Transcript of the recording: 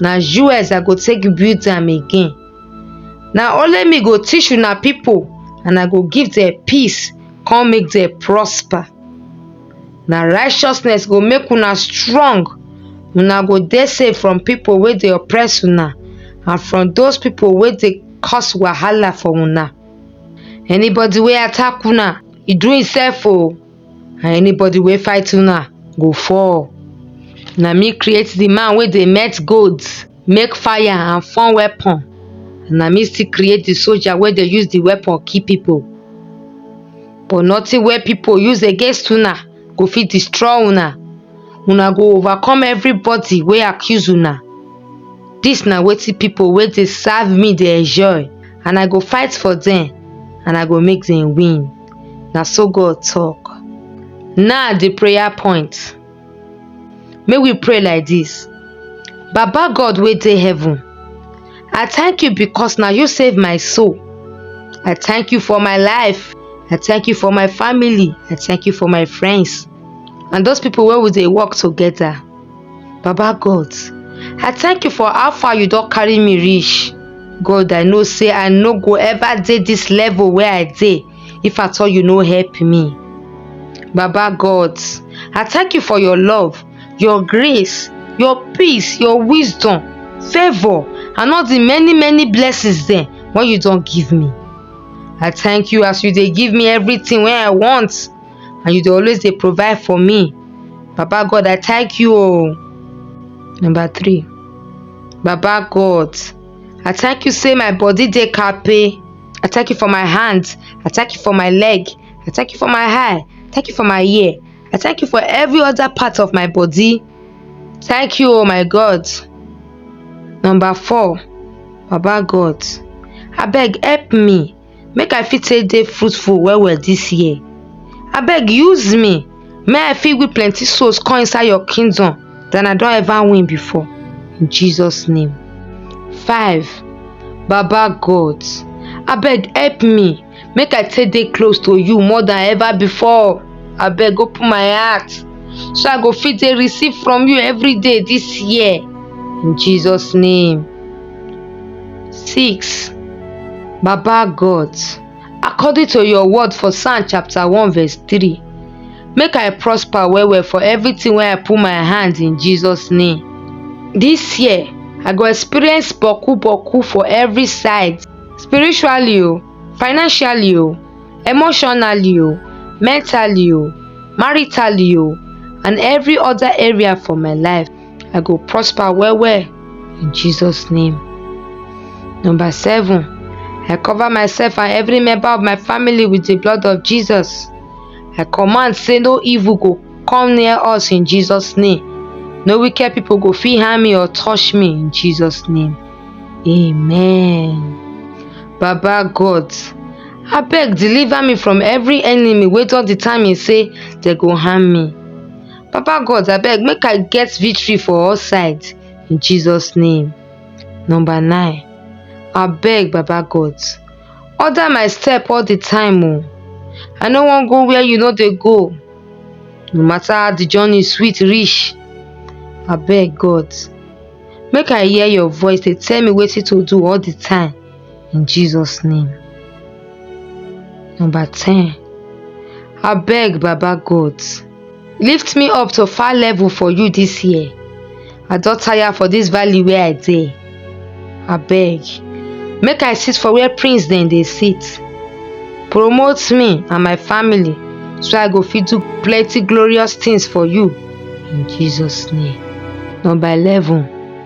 na us i go take build am again na only me go teach una pipo and i go give dem peace come make dem prosper na righteousness go make una strong una go dey safe from pipo wey dey oppress una and from those pipo wey dey cause wahala for una anybody wey attack una e do imsef o and anybody wey fight una go fall. Na me create the man wey dey melt gold, make fire and form weapon. Na me still create the soldier wey dey use the weapon kill people. But nothing wey people use against una go fit destroy una. Una go overcome everybody wey accuse una. Dis na wetin people wey dey serve me dey enjoy and I go fight for dem and I go make dem win. na so God talk. Now the prayer point. May we pray like this. Baba God wey dey heaven, I thank you because now you save my soul. I thank you for my life. I thank you for my family. I thank you for my friends. And those people where we they work together. Baba God, I thank you for how far you don carry me reach. God, I know say I no go ever dey this level where I dey if at all you no help me. Baba God, I thank you for your love, your grace, your peace, your wisdom, favor, and all the many many blessings dem wey you don give me. I thank you as you dey give me everything wey I want. and you dey always dey provide for me. Baba God I thank you oh. Number three, Baba God I thank you say my body dey kape. I thank you for my hand, I thank you for my leg, I thank you for my eye, thank you for my ear, I thank you for every other part of my body. Thank you oh my God. Number four, Baba God abeg help me make i fit take dey fruitful well well this year abeg use me make i fit win plenty souls come inside your kingdom than i don ever win before in jesus name five baba god abeg help me make i take dey close to you more than ever before abeg open my heart so i go fit dey receive from you every day this year in jesus name 6 Baba God, according to your word for Psalm chapter 1 verse 3, make I prosper well well for everything where I put my hand in Jesus' name. This year, I go experience boku boku for every side, spiritually o, oh, financially o, oh, emotionally o, oh, mentally o, maritally o, and every other area for my life. I go prosper well well in Jesus name. Number seven, I cover myself and every member of my family with the blood of Jesus. I command say no evil go come near us in Jesus name. No wicked people go fit harm me or touch me in Jesus name. Amen. Baba God, abeg deliver me from every enemy wey don determine say dem go harm me. Papa God abeg make I get victory for all sides in Jesus name. Number nine, abeg Baba God order my step all the time o. Oh. I no wan go where you no dey go. No matter how the journey sweet reach, abeg God make I hear your voice dey tell me wetin to do all the time. in Jesus' name. Number 10. I beg Baba God, lift me up to far level for you this year. I don tire for this valley where I dey. I beg, make I sit for where prince dem dey sit. Promote me and my family so I go fit do plenty glorious things for you in Jesus' name. Number 11.